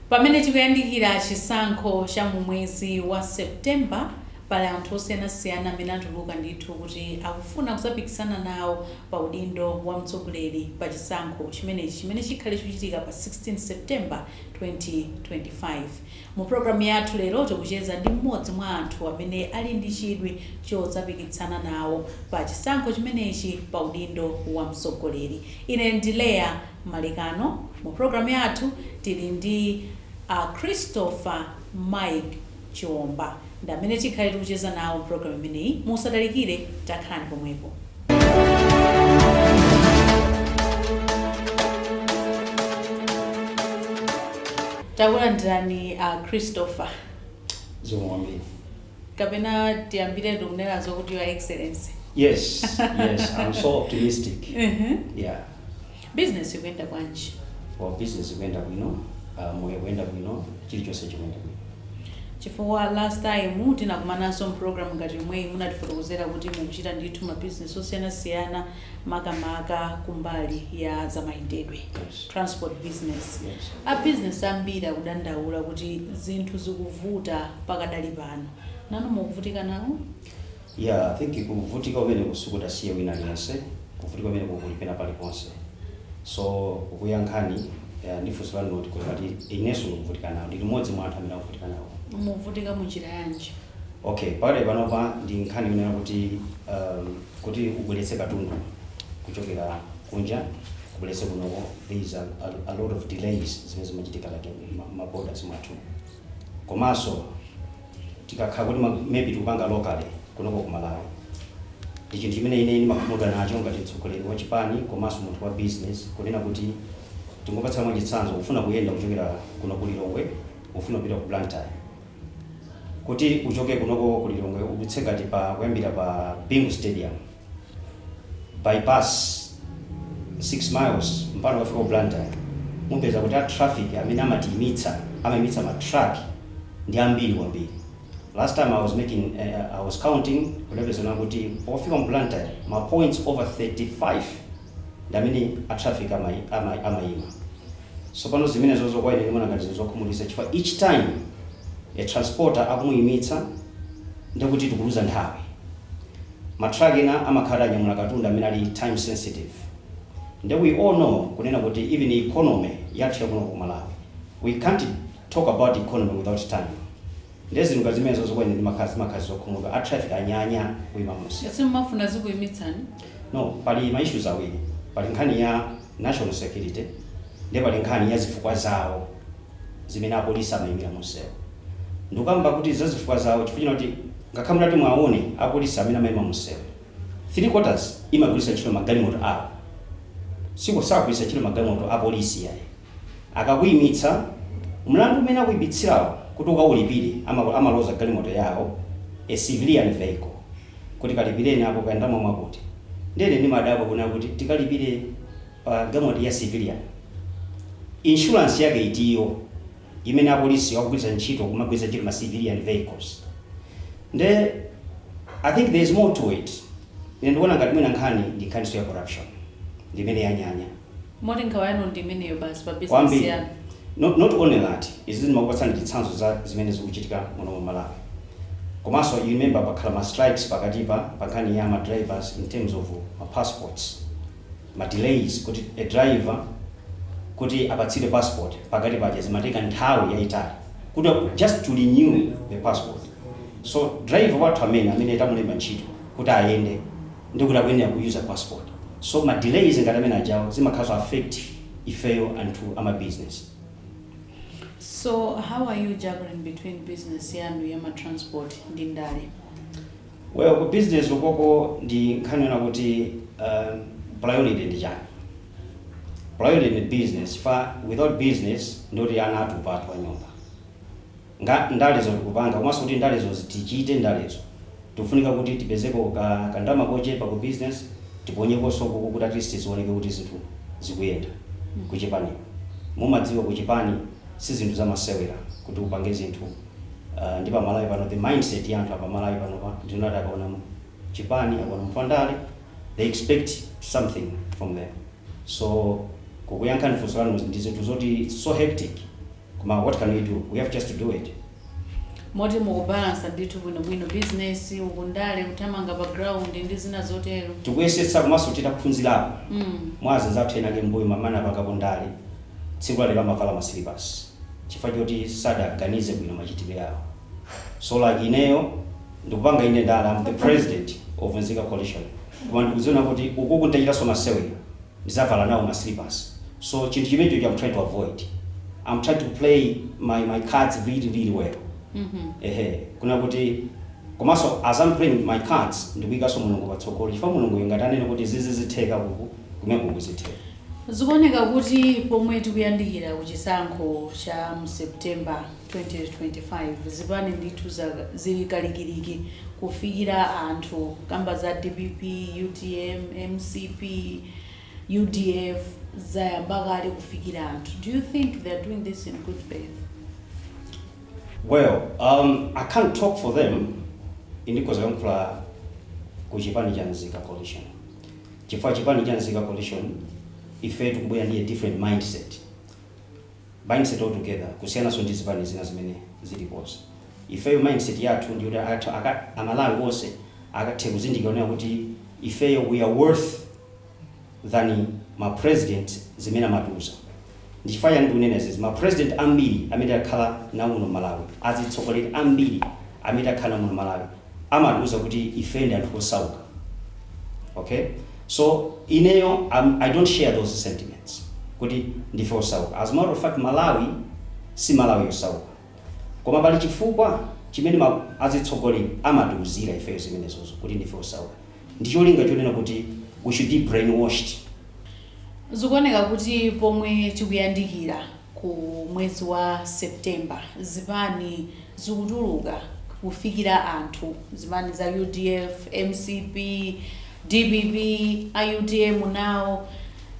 pamene tikuyandikira chisankho cha mu mwezi wa september pali anthu osiyanasiyana amene atuluka ndithu kuti akufuna kuzapikisana nawo pa udindo wa mtsogoleri pa chisankho chimenechi chimene chikhale chikuchitika pa 16 september 2025. Mu programu yathu lero tikucheza ndi mmodzi mwa anthu amene ali ndi chidwi chodzapikisana nawo pa chisankho chimenechi pa udindo wa mtsogoleri. Ine ndi Leah Malekano. Mu programu yathu tili ndi a Christopher Mike Chiomba ndi amene tikhale tikucheza nawo mprogramu imeneyi. Musatalikire, takhalani pomwepo. Takulandirani a Christopher, zikomo kwambiri kapena tiyambiretu kunena zokuti Your Excellency. yes yes i'm so optimistic yeah Business ikuyenda bwanji? Well, business ikuyenda bwino, uh, moyo ukuyenda bwino, chilichonse chikuyenda bwino. Chifukwa last time tinakumananso mprogram ngati yomweyi munatifotokozera kuti mukuchita ndithu ma business osiyanasiyana makamaka kumbali ya zamayendedwe Yes. transport business. Yes. A business ambiri akudandaula kuti zinthu zikuvuta pakadali pano. Nanu mukuvutika nawo? Yeah I think kuvutika kumeneku sikukutasiya wina aliyense, kuvutika kumeneku kuli pena paliponse so kuyankha ndi funso lanu loti kuti ngati inenso ndikuvutika nawo, ndili m'modzi mwa anthu amene akuvutika nawo. Muvutika mu njira yanji? Okay pakadali panopa ndi nkhani yonena kuti umm kuti ubweretse katundu kuchokera kunja ubweretse kunoko there is a a lot of delays zimene zimachitika like mma borders mwathu komanso tikakhala kuti maybe tikupanga locally kunoko ku Malawi ndi chinthu chimene ine ndimakhumudwa nacho ngati mtsogoleri wa chipani komanso munthu wa business kunena kuti tingopatsa mwa chitsanzo kufuna kuyenda kuchokera kuno ku Lilongwe ufuna kupita ku Blantyre kuti uchoke kunoko ku Lilongwe udutse ngati pa kuyambira pa Bingu stadium bypass 6 miles mpaka ukafike ku Blantyre mupeza kuti a traffic amene amatiimitsa, amaimitsa ma truck ndi ambiri kwambiri. Last time I was making I was counting kudapeza kunena kuti pofika mu Blantyre ma points over 35 ndi amene a traffic amaima. Tsopano zimenezozo kwa ine ndimaona ngati zinthu zokhumudwitsa chifukwa each time a transporter akumuimitsa ndekuti tikuluza nthawi. Ma truck ena amakhala anyamula katundu amene ali time sensitive nde we all know kunena kuti even economy yathu ya kuno ku Malawi we can't talk about economy without time nde zinthu ngati zimenezozo kwa ine ndimakhala zimakhala zokhumudwa a traffic anyanya kuima munsewu. Simumafuna azikuimitsani? No, pali ma issues awiri. Pali nkhani ya national security nde pali nkhani ya zifukwa zawo. zimene apolisi amaimira munsewu. Ndikukamba kuti za zifukwa zawo chifukwa choti kuti ngakhale mutati muwaone apolisi amene amaima munsewu, three quarters imagwiritsa ntchito magalimoto awo. Siku, sakugwiritsa ntchito magalimoto a polisi iyayi. Akakuimitsa, mlandu umene akuimitsirawo kuti ukaulipire, ama, amaloza galimoto yawo, a civilian vehicle, kuti kalipireni apo kaya ndalama mwakuti. Ndiye ine ndimadabwa kunena kuti tikalipire Pa galimoto ya civilian, insurance yake iti iyo imene apolisi akugwiritsa ntchito kumagwiritsa ntchito ma civilian vehicles? Nde I think there is more to it. Ine ndikuona ngati mwina nkhani ndi nkhaninso ya corruption ndi imene yanyanya Moti nkhawa yanu ndi imeneyo basi pa business kwambiri. yanu. Not, not only that, izi ndimakupatsani chitsanzo za zimene zikuchitika muno mu Malawi. Komanso you remember pakhala ma strikes pakatipa pa nkhani ya ma drivers in terms of ma passports. ma delays kuti a driver kuti apatsidwe passport pakati paja zimatenga nthawi yayitali kuti just to renew the passport so driver wathu amene amene tamulemba ntchito kuti ayende ndikuti akuyenera ku use passport so ma delays ngati amene ajawo zimakhalanso affect ifeyo anthu ama business So how are you juggling between business yanu ya ma transport ndi ndale? Well ku business ukoko ndi nkhani yona kuti uh priority ndi chani. Priority ndi business chifukwa without business ndiye kuti ana atupa athu a nyumba. Ndalezo tikupanga komanso kuti ndalezo tichite ndalezo tikufunika kuti tipezeko ka ka ndalama kochepa ku business tiponyekonso ukuku kuti at least zioneke kuti zinthu zikuyenda kuchipaniko. Mumadziwa kuchipani si zinthu zamasewera kuti upange zinthu. uh, ndi pamalawi pano the mindset ya anthu apamalawi panopa ndi yoti akaona chipani akaona munthu wandale they expect something from them so kukuyankhani funso lanu ndi zinthu zoti it's so hectic koma what can we do we have just to do it moti mukubalansa ndithu bwinobwino business ukundale kuthamanga pa ground ndi zina zotero tikuyesetsa komanso titaphunzirapo mm. mwa anzathu enaake mbuyomu amene apanga kundale tsiku lalero amavala masilipasi chifukwa choti sadaganize bwino machitidwe awo so like ineyo ndikupanga inde ndale I'm the president of Nzika Coalition koma ndikudziona kuti uku kutachitanso masewera ndizavala nawo ma slippers so chinthu chimenechocho I'm trying to avoid I'm trying to play my my cards really really well ehe kunena kuti komanso as I'm playing my cards ndikuikanso mulungu patsogolo chifukwa mulungu ngati wanena kuti zizitheka uku kumene kuzitheka Zikuoneka kuti pomwe tikuyandikira ku chisankho cha mu September 2025, zipani ndithu zili kalikiliki kufikira anthu kamba za dpp, utm, mcp, udf zayamba kale kufikira anthu. Do you think they are doing this in good faith? Well, um, I can't talk for them. Ine ndikhoza kuyankhula ku chipani cha Nzika Coalition. Chifukwa chipani cha Nzika Coalition ifeyo tikubwera ndi a different mindset, mindset altogether kusiyananso ndi zipani zina zimene zilipozi. Ifeyo mindset yathu ndi yoti anthu a Malawi onse akathe kuzindikira kunena kuti ifeyo we are worth than ma president zimene amatiuza. Ndichifukwa chani ndikunena izizi ma president ambiri amene takhala nawo muno m'Malawi azitsogoleri ambiri amene takhala nawo muno malawi amatiuza kuti ife ndi anthu osauka ok so ineyo am i don't share those sentiments kuti ndife osauka as matter of fact malawi si malawi wosauka koma pali chifukwa chimene azitsogoleri amatiuzira ifeyo zimenezozo kuti ndife osauka ndi cholinga chonena kuti we should be brainwashed. Zikuoneka kuti pomwe tikuyandikira ku mwezi wa September zipani zikutuluka kufikira anthu, zipani za udf, mcp, dpp, utm now,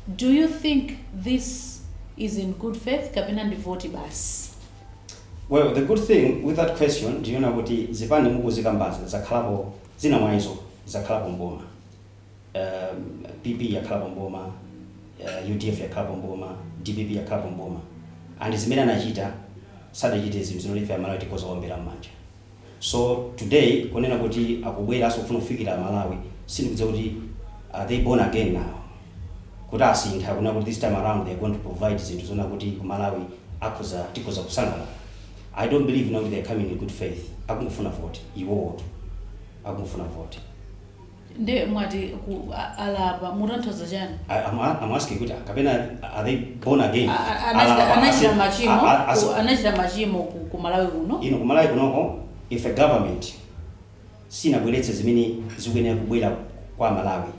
do you think this is in good faith kapena ndi voti basi? Well, the good thing with that question ndi yonena kuti zipani mukuzikambazi zakhalapo Zina mwa izo zakhalapo m'boma, PP yakhalapo m'boma, udf yakhalapo m'boma, dpp yakhalapo m'boma and zimene anachita sadachite zinthu zoti ife amalawi tikhoza kuwaombera m'manja. So today kunena kuti akubweranso kufuna kufikira amalawi sindikudziwa kuti are they born again now kuti asintha kunena kuti this time around they are going to provide zinthu zoona kuti kumalawi akhoza tikhoza kusangalala. I don't believe now kuti they are coming in good faith akungofuna vote iwowotu akungofuna vote. Nde mwati ku alapa mukutanthauza chani? I- I'm, a- I'm asking kuti kapena are they born again? A- a- Alapa, anachita anachita ase- a- machimo a- ase- ku- anachita machimo ku ku Malawi kuno. kumalawi kunoko if a government sinabweretse zimene zikuyenera kubwera kwa amalawi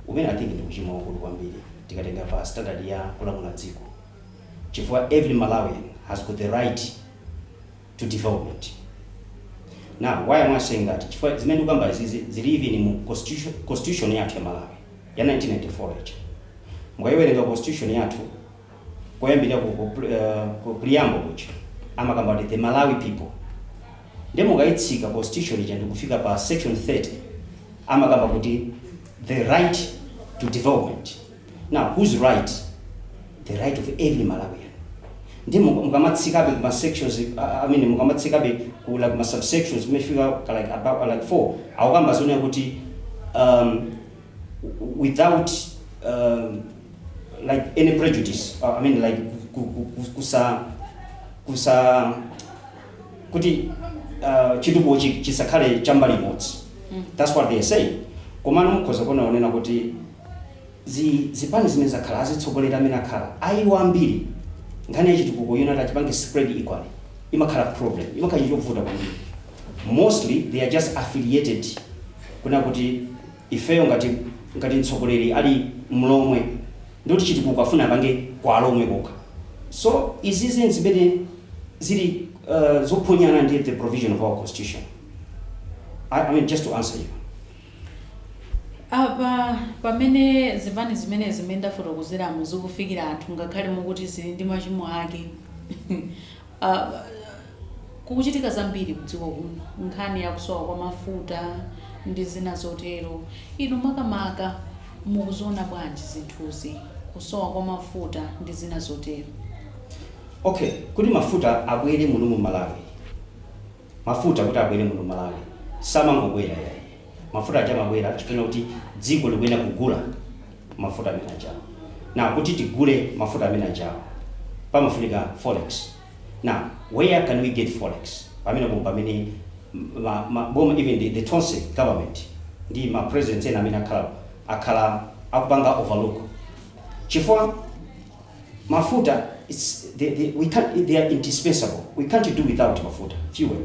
umene i think ndi uchimo waukulu kwambiri tikatenga pa standard ya kulamula dziko chifukwa every Malawian has got the right to development. Now why am I saying that chifukwa zimene ndikukamba zili even mu constitution, constitution yathu ya Malawi ya 1994 ija. Mukayiwerenga constitution yathu koyambirira ku, ku, pre- eh, ku preamble kuja amakamba kuti the Malawi people nde mukayitsika constitution ija ndikufika pa section 30 amakamba kuti the right to development Now who's right? The right of every Malawian. Ndi mu- mukamatsikabe kuma sections I I mean mukamatsikabe ku like ma subsections kumafika ka like about like four akukamba zonena kuti um, w- without um, like any prejudice uh, I mean like ku- ku- ku- kusa kusa kuti uh, chitukuko chi- chisakhale chambali imodzi that's what they are saying komano mukhoza kuona zonena kuti zi zipani zimene zakhala azitsogoleri amene akhala a iwo ambiri nkhani ya chitukuko yonena kuti achipange spread equally imakhala problem imakhala chinthu chovuta kwambiri mostly they are just affiliated kunena kuti ifeyo ngati ngati mtsogoleri ali mlomwe nde kuti chitukuko afuna apange kwa alomwe kokha so izizi nzimene zili uh, zophonyana ndi the provision of our constitution I, I mean just to answer you Apa, pamene zipani zimenezi zimene ndafotokozerazi zikufikira anthu ngakhale mukuti zili ndi machimo ake, kukuchitika zambiri kudziko kuno, nkhani ya kusowa kwa mafuta ndi zina zotero. Inu makamaka mukuziona bwanji zinthuzi, kusowa kwa mafuta ndi zina zotero? Okay, kuti mafuta abwere muno mu Malawi. Mafuta kuti abwere muno mu Malawi samangobwera yayi. Mafuta aja amabwera chifukwa chakuti dziko likuyenera kugula mafuta amene aja. Now kuti tigule mafuta amene aja pamafunika forex. Now where can we get forex? Pamenepo mpamene ma, ma, boma even the, the Tonse government ndi ma presidents ena amene akhalapo akhala akupanga overlook chifukwa Mafuta its the the we can't they are indispensable we can't do without mafuta fuel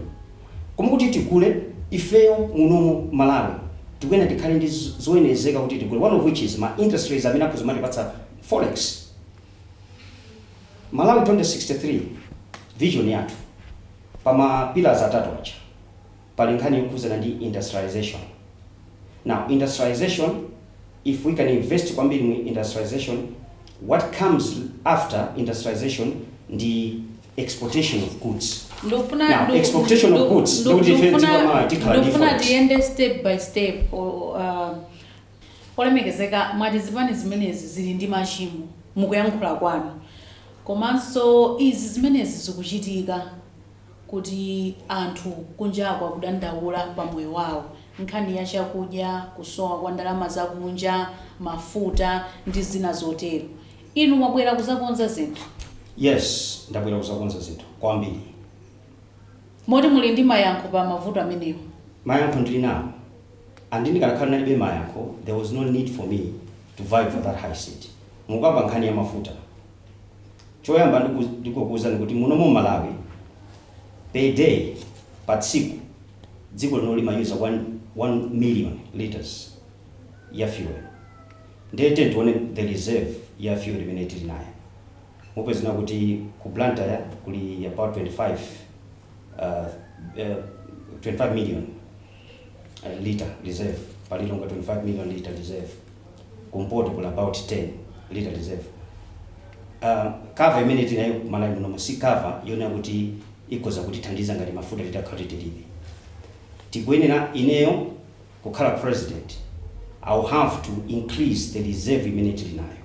koma kuti tigule ifeyo muno mu Malawi tikuyenera tikhale ndi zoyenerezeka kuti tigule one of which is ma industries amene akhoza kumatipatsa forex Malawi 2063 vision yathu pa ma pillars atatu aja. pali nkhani yokhudzana ndi industrialisation now industrialisation if we can invest kwambiri mu industrialisation what comes after industrialisation ndi exportation of goods Now, exportation of goods, ndikufuna tiyende step by step o- uh, olemekezeka mwati zipani zimenezi zili ndi machimo mukuyankhula kwanu komanso izi zimenezi zikuchitika kuti anthu kunjako akudandaula pa moyo wawo, nkhani ya chakudya, kusowa kwa ndalama za kunja, mafuta ndi zina zotero. Inu mwabwera kuzakonza zinthu? Yes, ndabwera kuzakonza zinthu kwambiri. Moti muli ndi mayankho pa mavuto amenewo? Mayankho ndili nawo and ndikanakhala ndinalibe mayankho there was no need for me to vie for that high seat. Mukukamba nkhani ya mafuta. Choyamba ndingokuuzani kuti muno mu Malawi per day, pa tsiku, dziko lino limayuza 1 million litres ya fuel ndiye tiyeni tione the reserve ya fuel imene tili nayo. Mupeza kunena kuti ku Blantyre kuli about 25 uh, uh, 25 million eh, lita reserve pa Lilongwe 25 million lita reserve kumpoto kuli about 10 lita reserve uh, cover imene tinayo ku Malawi munomo si cover yonena kuti ikhoza kutithandiza ngati mafuta titakhala titilibe tikuyenera ineyo kukhala president i will have to increase the reserve imene tili nayo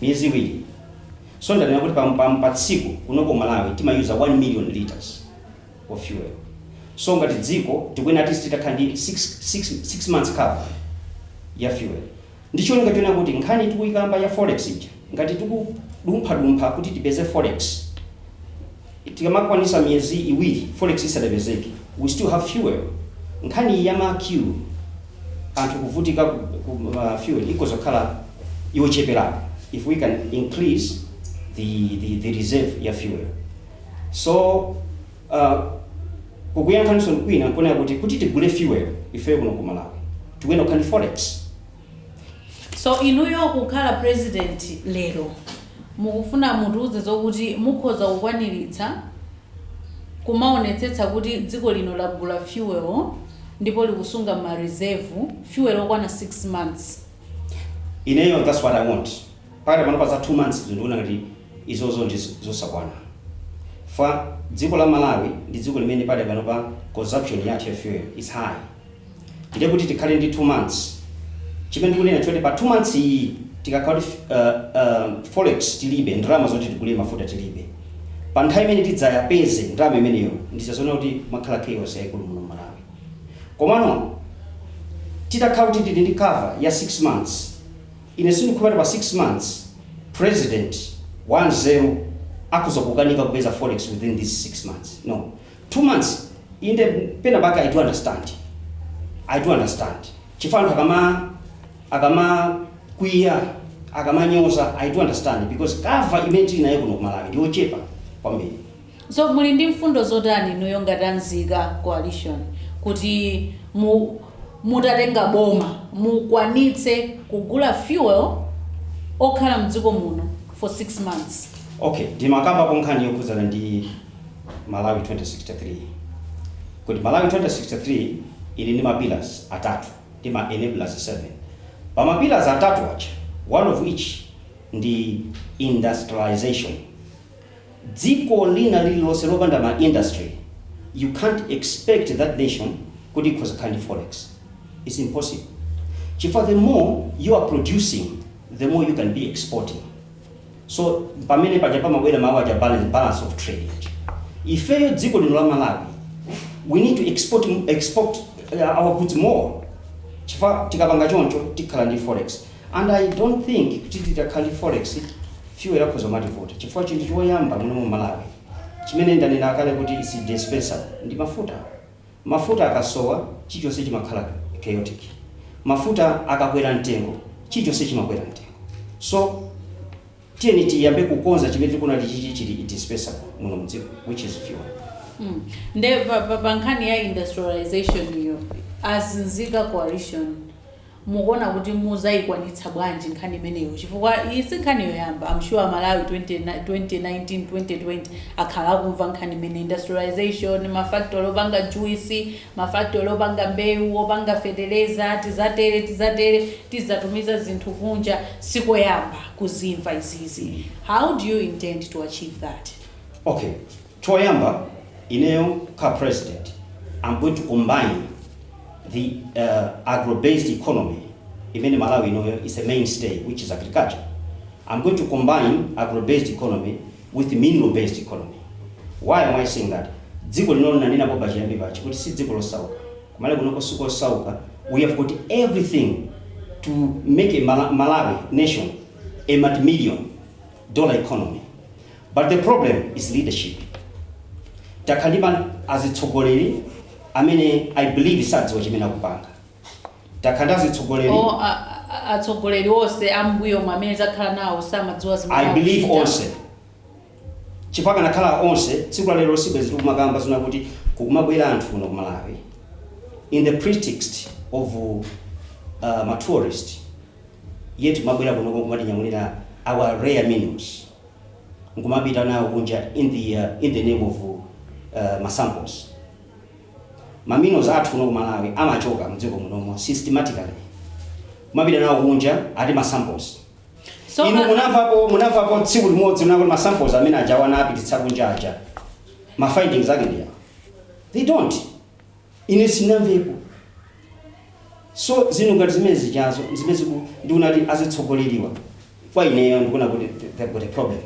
miyezi iwiri so ndanena kuti pa, pa, pa tsiku kuno ku malawi timayuza 1 million liters of fuel so ngati dziko tikuyenera at least titakhala ndi 6 months cover ya fuel ndi cholinga chonena kuti nkhani tikuyikamba ya forex ija ngati tikudumphadumpha kuti tipeze forex Tikamakwanisa miyezi iwiri forex isadapezeke we still have fuel. Nkhani ya ma Q anthu kuvutika ku ma fuel ikhoza kukhala yocheperako if we can increase the the the reserve ya fuel. So uh, kukuyankhanisoni kwina nkunena kuti kuti tigule fuel ifeyo kuno ku Malawi tikuyenera kukhala ndi forex. So inuyo kukhala president lero mukufuna mutiuze zokuti mukhoza kukwanilitsa kumaonetsetsa kuti dziko lino lagula fuel ndipo likusunga ma reserve fuel okwana 6 months. Ineyo that's what I want pakadali panopa za 2 months zo ndikuona ngati izozo ndi zosakwana chifukwa dziko la Malawi ndi dziko limene pakadali panopa consumption yathu ya fuel is high. ndiye kuti tikhale ndi 2 months chimene ndikunena choti pa 2 months iyi tikakhala kuti uh, uh, forex tilibe ndalama zoti tigule mafuta tilibe pa nthawi imene tidzaipeze ndalama imeneyo ndi zazoona kuti mukhala chaos yaikulu muno mmalawi komano titakhala kuti tili ndi cover ya 6 months ine sindikukamba kuti pa 6 months president wanzeru akhoza kukanika kupeza forex within these 6 months no 2 months inde pena pake i do understand i do understand chifukwa anthu akama akama kwiya akamanyoza i do understand because cover imene tili nayo kuno kumalawi ndiyochepa kwambiri so muli ndi mfundo zotani inuyo ngati anzika coalition kuti mu, mutatenga boma mukwanitse kugula fuel okhala mdziko muno for 6 months okay ndimakamba konkhani yokhudzana ndi Malawi 2063 kuti Malawi 2063 ili ndi ma pillars atatu ndi ma enablers 7. Pa ma pillars atatu aja one of which ndi industrialisation. Dziko lina lililonse lopanda ma industry you can't expect that nation kuti ikhoza kukhala ndi forex. It's impossible chifukwa the more you are producing the more you can be exporting. So pamene paja pamabwera mawu aja balance, balance of trade aja. Ifeyo dziko lino la Malawi we need to export export uh, our goods more. Chifukwa tikapanga choncho tikhala ndi forex. And I don't think kuti titakhala ndi forex fuel akhoza kumativuta. Chifukwa chinthu choyamba muno mu Malawi chimene ndanena kale kuti is indispensable ndi mafuta. Mafuta akasowa, chilichonse chimakhala chaotic. Mafuta akakwera mtengo, chilichonse chimakwera mtengo. So, tiyeni tiyambe kukonza chimene tikuona kuti chichi chili indispensable muno mu dziko, which is fuel. Mm. Nde pa, pa, pa nkhani ya industrialization iyo a anzika coalition mukuona kuti muzaikwanitsa bwanji nkhani imeneyo chifukwa iyi si nkhani yoyamba I'm sure malawi 20, 2019 2020 akhala akumva nkhani imeneyi industrialization mafactory opanga juice mafactory opanga mbewu opanga feteleza tizatere tizatere tizatumiza zinthu kunja sikoyamba kuzimva izizi how do you intend to achieve that Okay. Choyamba ineyo kha president am going to combine the agro-based economy imene Malawi inoyo is a main stay which is agriculture, am going to combine agro-based economy with mineral based economy. Why am I saying that? Dziko lino linanenapo pachiyambi pache kuti si dziko losauka, kumalawi kunoko sikosauka, we have got everything to make a Malawi nation a multi million dollar economy. But the problem is leadership. Takhala ndi ma azitsogoleri amene I believe sadziwa chimene akupanga. Takhala ndi azitsogoleri O, a- a- atsogoleri onse ambuyo amene takhala nawo samadziwa zimene I believe akuchita. onse chifukwa kukanakhala onse tsiku la lero sibwezi tikumakamba zina zoti kukumabwera anthu kuno ku Malawi in the pretext of uh, ma tourist yet kumabwera kuno kumatinyamulira our rare minerals nkumapita nawo kunja in the in the name of ma samples. Ma minerals athu kuno ku Malawi amachoka mdziko munomo systematically kumapita nawo kunja ati ma samples. So, Inu uh, munamvapo munamvapo tsiku limodzi kunena kuti ma samples amene ajawa anapititsa kunja aja. Ma findings ake ndi awa. They don't. Ine sinamvepo so zinthu ngati zimenezijazo zimene ndikuona kuti azitsogoleriwa kwa ineyo ndikuona kuti th- they've got a problem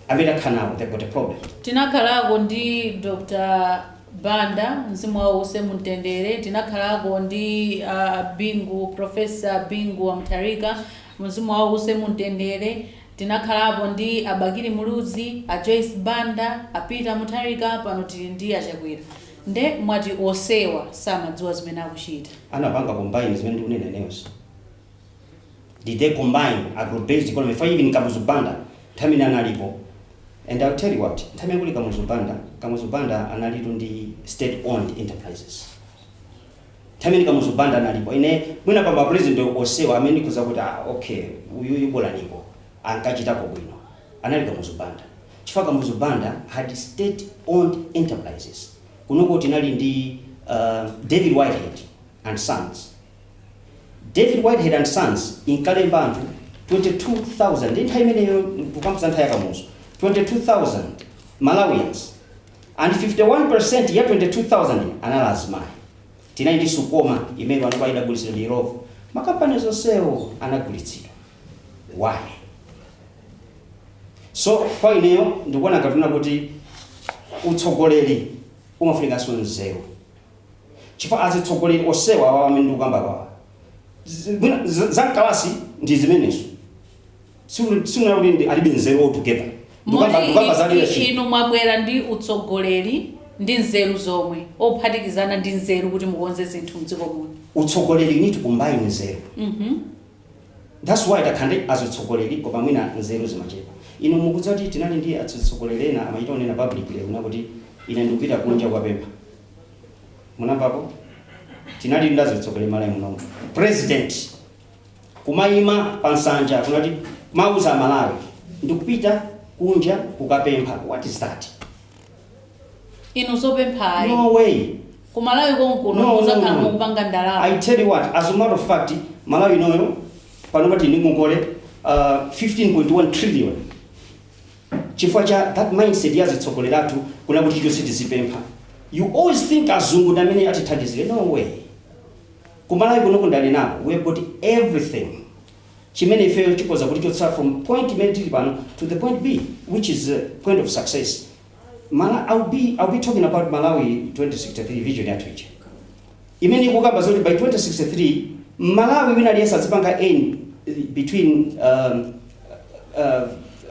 amene akhala nawo they've got a problem tinakhalako ndi dr banda mzimu wawo uwuse mumtendere tinakhalako ndi uh, bingu profesa bingu wa mutharika mzimu wawo uwuse mumtendere tinakhalapo ndi a bakili muluzi a joyce banda a peter mutharika pano tili ndi a chakwera Nde mwa onsewa samadziwa zimene akuchita? anapanga combine zimene ndikunena ineyozi? did they combine agro-based economy chifukwa even kamuzu banda nthawi imene analipo and i will tell you what nthawi imene kuli kamuzu banda kamuzu banda analitu ndi state owned enterprises nthawi imene kamuzu banda analipo ine mwina pa mapresident onsewa amene ndikhoza kunena kuti ah okay uyuyu bolaniko ankachitapo bwino anali kamuzu banda Chifukwa Kamuzu Banda had state owned enterprises. Kunoko tinali ndi David Whitehead and Sons. David Whitehead and Sons inkalemba anthu 22,000 ndi nthawi imeneyo ndikukamba za nthawi ya Kamuzu. 22,000 Malawians and 51% ya 22,000 yo anali azimayi. Tinali ndi Sucoma imene panopa idagulitsidwa ndi Illovo. Makampani zonsewo anagulitsidwa. Why? so kwa ineyo ndikuona ngati kunena kuti utsogoleri umafunikanso nzeru chifukwa azitsogoleri onsewa awa amene ndikukamba kwawa zi- mwina za- za mkalasi ndi zimenezo sikunena kuti ndi- alibe nzeru altogether ndikukamba ndikukamba za leadership inu mwabwera ndi utsogoleri ndi nzeru zomwe ophatikizana ndi nzeru kuti mukonze zinthu mdziko muno utsogoleri you need to combine nzeru Mhm. Thats why takhala ndi azitsogoleri koma mwina nzeru zimachepa. Inu mukudziwa kuti tinali ndi atsogoleri ena amachita kunena publicly kunena kuti ine ndikupita kunja kukapempha. Munamvapo? Tinalitu ndi azitsogoleri Malawi munomu. President kumayima pa nsanja kunena kuti kumawuza Amalawi ndikupita kunja kukapempha. What is that? inu zopempha ayi No way. kumalawi konkuno No, no, muzakhala no. mukupanga I ndalama tell you what, as a matter of fact, Malawi inoyo pano tili ndi ngongole uh, 15.1 trillion. Chifukwa cha that mindset ya azitsogoleri athu kunena kuti chonse tizipempha. You always think azungu ndi amene atithandizire. No way. Kumalawi kuno n'kodalitsika. We have got everything. chimene ifeyo chikhoza kutichotsa from point imene tili pano to the point B which is point of success Mala, I'll be, I'll be talking about Malawi 2063 vision yathu ija imene ikukamba zoti by 2063 mmalawi wina aliyense azipanga earn between um, uh,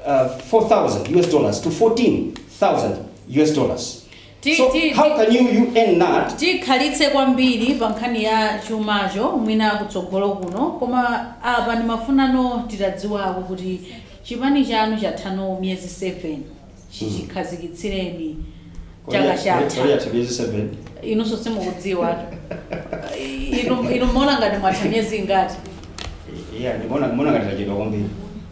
uh, 4000 us dollars to 14000 us dollars Ti- So ti- how ti- can you you earn that? tikhalitse kwambiri pa nkhani ya chumacho mwina kutsogolo kuno koma apa ndimafuna titadziwako kuti chipani chanu chatha no miyezi 7 chichikhazikitsireni chaka Kodi- kodi chatha yatha miyezi seven? inunso simukudziwa inu inu mukuona ngati mwatha miyezi ingati Yeah, ndimona ndimona ngati tachedwa kwambiri.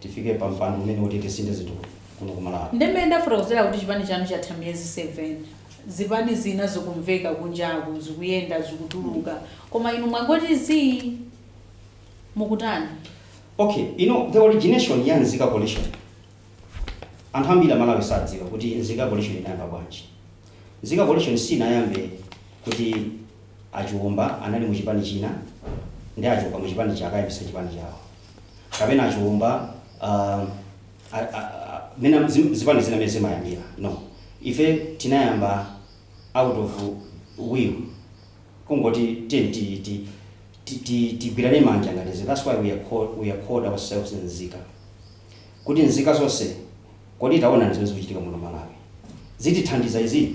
tifike pa mpando umene oti tisinthe zinthu kuno ku malawi ndi mmene ndafotokozera kuti chipani chanu chatha miyezi 7 zipani zina zikumveka kunjaku zikuyenda zikutuluka koma inu mwangoti zii mukutani okay you know the origination ya nzika coalition anthu ambiri amalawi sadziwa kuti nzika coalition inayamba bwanji nzika coalition sinayambe kuti a Chiomba anali mu chipani china nde achoka mu chipani chake ayambitsa chipani chawo kapena a Chiomba mena zipani zina mmene zimayambira no ife tinayamba out of will kungoti tiyeni tigwirane manja ngati nzika that's why we are called, we are called ourselves nzika kuti nzika zonse kodi taona zimene zikuchitika muno malawi zitithandiza izi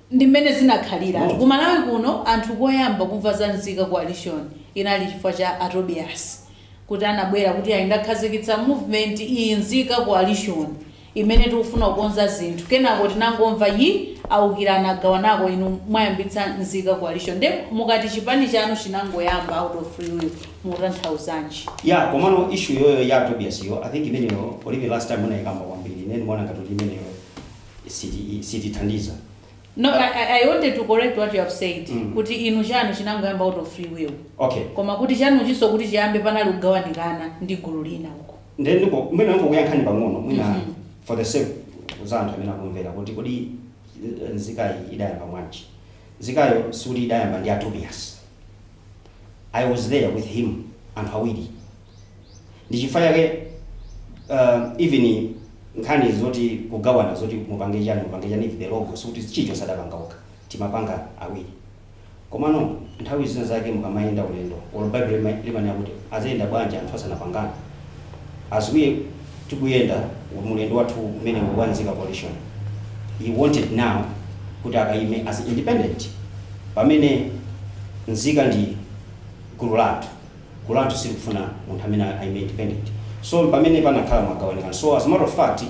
ndi mmene zinakhalira ku Malawi kuno anthu koyamba kumva za nzika coalition inali chifukwa cha a Tobias kuti anabwera kuti ayi ndakhazikitsa movement iyi nzika coalition imene tikufuna kukonza zinthu kenako tinangomva ayi awukirana agawanako inu mwayambitsa nzika coalition nde mukati chipani chanu chinangoyamba out of free will mukutanthauzanji? Yeah komano issue iyoyo ya Tobias yo I think imeneyo palibe last time munayikamba kwambiri ine ndimaona ngati kuti imeneyo sitithandiza. No, I, I, I wanted to correct what you have said Mm. kuti inu chanu chinangoyamba out of free will Okay. koma kuti chanuchinso kuti chiyambe panali kugawanikana ndi gulu lina uko Nde ndiko mwina ndikuyankheni pang'ono mwina Mhm. for the sake za anthu amene akumvera kuti kodi eh, nzikayi idayamba bwanji. Nzikayo sikuti idayamba ndi a Tobias. I was there with him anthu awiri. ndichifukwa chake uh, even nkhani zoti kugawana zoti mupange chani mupange chani the logo sikuti chilichonse adapanga okha timapanga awiri komano nthawi zina zake mukamayenda ulendo olo bible lima- limanena kuti adzayenda bwanji anthu asanapangana as we tikuyenda mulendo wathu umene wa nzika coalition he wanted now kuti akaime as independent pamene nzika ndi gulu la anthu gulu lathu silikufuna munthu amene aime independent so pamene panakhala magawanikano so as a matter of fact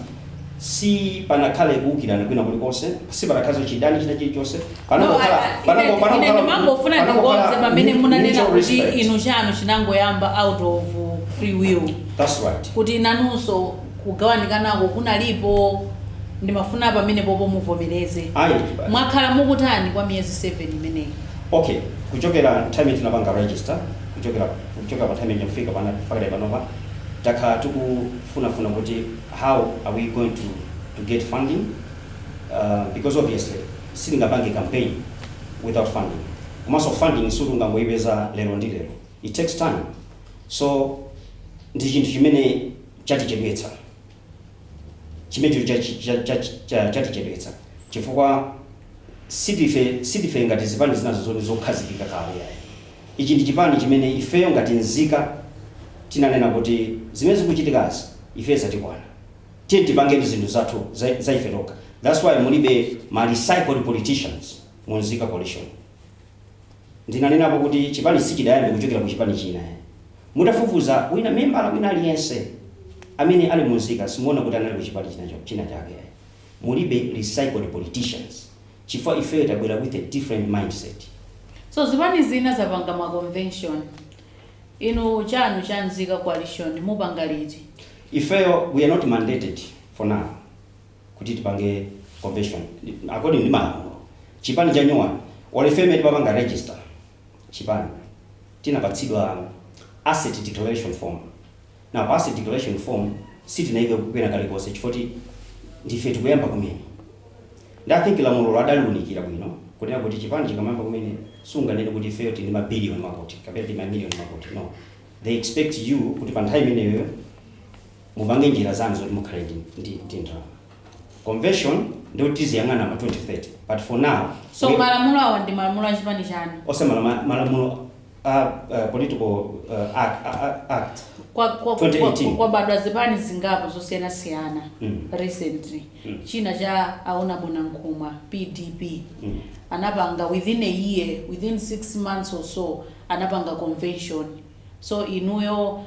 sipanakhale kuukirana kwina kuli konse sipanakhaleso chidani china chili chonse No, I- I- panangokhala ine- panangokhala ine ndimangofuna panangokhala ndikonze pamene mu- munanena mutual kuti respect. inu chanu chinangoyamba out of free will that's right kuti nanunso kugawanikanako kunalipo ndimafuna pamenepopo muvomereze ayi mwakhala mukutani kwa miyezi 7 imeneyi Ok, kuchokera nthawi imene tinapanga register kuchokera kuchokera pa nthawi imene kufika pano pakali panopa takhala tikufunafuna kuti how are we going to, to get funding uh, because obviously sitingapange campaign without funding komanso funding sikuti ungangoyipeza lero ndi lero it takes time so ndi chinthu chimene chatichedwetsa chimenecho chatichedwetsa chifukwa Sindife, sindife ngati zipani zinazo zoti nzokhazikika kale ayi. Ichi ndi chipani chimene ifeyo ngati nzika tinanena kuti zimene zikuchitikazi ifeyo zatikwana. Tiyeni tipange zinthu zathu za, za ife tokha. That's why mulibe ma recycled politicians mu Nzika Coalition. Ndinanenapo kuti chipani sichidayambe kuchokera ku chipani china ayi. Mutafufuza wina, membala wina aliyense amene ali mu Nzika simuona kuti anali ku chipani china, china chake ayi. Mulibe recycled politicians chifukwa ifeyo tabwera with a different mindset. So zipani zina zapanga ma convention inu chanu cha nzika coalition mupanga liti? Ifeyo we are not mandated for now kuti tipange convention according ndi malamulo. Chipani chanyuwani olo ife mmene timapanga register chipani tinapatsidwa asset declaration form. Nde pa asset declaration form sitinaikepo kena kalikonse chifoti ndife tikuyamba kumene nde I think lamulolo adaliunikira bwino kunena kuti chipani chikamayamba kumene sunganene kuti ifeyo tili ndi ma billion makuti kapena tili ma million makuti no they expect you kuti pa nthawi imeneyoyo mupange njira zanu zoti mukhale ndi ndi ndi ndalama. Convention ndiyoti tiziyang'ana ma 2030 but for now So we- malamulo awa ndi malamulo a chipani chanu. osati ma- malamulo a uh, political uh, act, a- a- act. Kwa, kwa, kwa, 2018. kwabadwa zipani zingapo zosiyanasiyana Mm. recently Mm. china cha Honourable Nankhumwa pdp Mm. anapanga within a year within six months or so anapanga convention so inuyo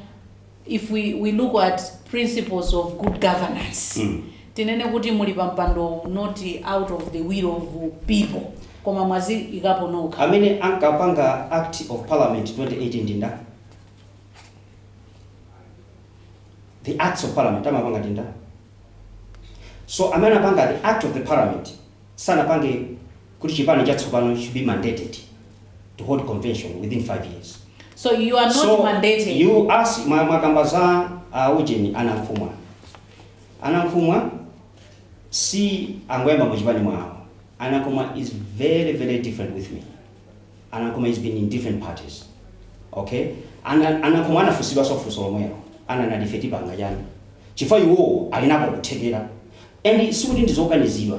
if we, we look at principles of good governance mm. tinene kuti muli pampandowo not out of the will of people koma mwaziikapo nokha amene ankapanga act of parliament 2018 ndi ndani the acts of parliament amapanga ndi ndani so amene anapanga the act of the parliament sanapange kuti chipani chatsopano should be mandated to hold convention within 5 years. So you are not so, mandated. You ask mumakamba za uh, ujeni a Nankhumwa. A Nankhumwa sakungoyamba mu chipani mwawo. A Nankhumwa is very very different with me. A Nankhumwa has been in different parties. Okay? A Nankhumwa anafunsidwanso funso lomwelo. Ana na defeat banga jani. Chifukwa iwo ali nako kuthekera. And sikuti ndizokakamizidwa.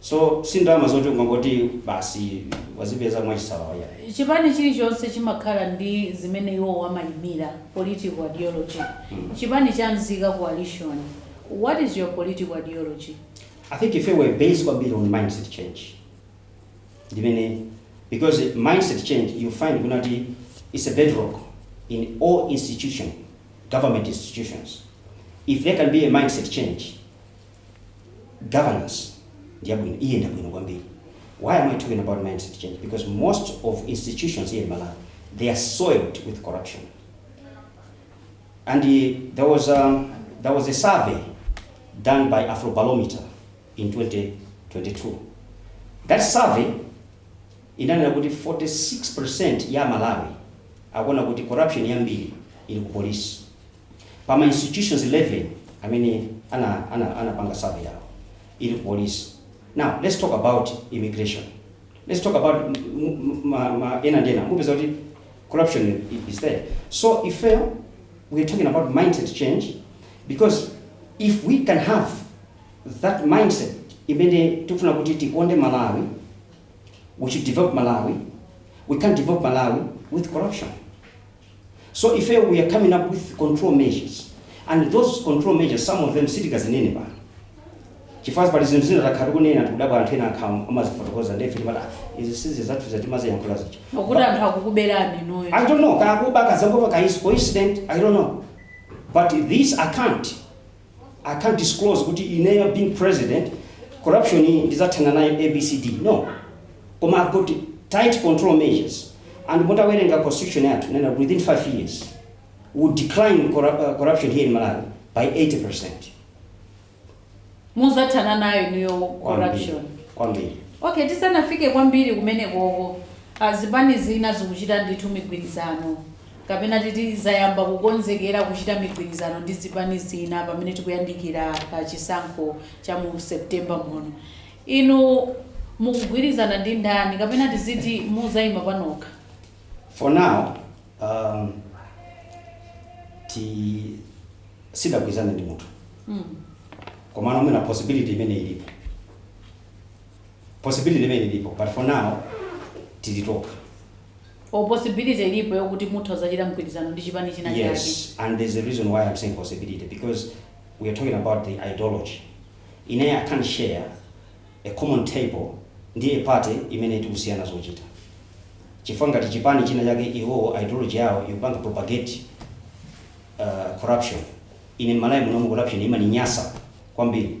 so si ndalama zoti umangoti basi wazipeza mwachisawawa yayi chipani chilichonse chimakhala ndi zimene iwowo amayimira political ideology chipani cha mzika coalition what is your political ideology I think ife we are based kwambiri on mindset change ndimene because mindset change you find kunena kuti it's a bedrock in all institution government institutions if there can be a mindset change governance iyenda bwino kwambiri why am i talking about mindset change because most of institutions here in malawi they are soiled with corruption and uh, there was a, there was a survey done by afrobarometer in 2022 that survey inanena kuti 46% ya aMalawi akuona kuti corruption yambiri ili ku polisi pa ma institutions 11 amene ana ana anapanga survey yawo ili ku police now let's talk about immigration let's talk about m- m- ma, ma ena ndi ena mupeza kuti corruption i- is there so if uh, we are talking about mindset change because if we can have that mindset imene tikufuna kuti tikonde malawi we should develop malawi we can't develop malawi with corruption So ifeyo we are coming up with control measures and those control measures some of them sitikazinene pano chifukwa pali zinthu zina takhala tikunena tikudabwa anthu ena akhala akumazifotokoza nde ife timati "Ah, izi si zathu timaziyankhula zija? Kuti anthu akukuberani inuyo. I don't know, kaya akuba kaya zangokhala kaya it's coincident, I don't know. But this I can't, I can't disclose kuti ineyo being president corruption iyi ndizathana nayo abcd no koma I've got tight control measures and mutawerenga constitution yathu nena within 5 years we will decline corru- uh, corruption here in Malawi by 80% muzathana nayo niyo corruption kwambiri okay tisanafike kwambiri kumenekoko zipani zina zikuchita ndithu migwirizano Kapena titi, zayamba kukonzekera kuchita migwirizano ndi zipani zina pamene tikuyandikira pa chisankho cha mu September muno. Inu mukugwirizana ndi ndani? Kapena tiziti muzaima panokha? For now, um, sitidagwirizane ndi munthu Mm. komano mwina possibility imene ilipo possibility imene ilipo but for now tili tokha or possibility ilipo yokuti mutha kuzachita mgwirizano ndi chipani china chake? Yes, and there's a reason why I'm saying possibility because we are talking about the ideology. Ine I can't share a common table ndi a party imene tikusiyana zochita. Chifukwa ngati chipani china chake iwowo ideology yawo ndi yopanga propagate uh, corruption. Ine m'Malawi muno corruption imaninyasa kwambiri.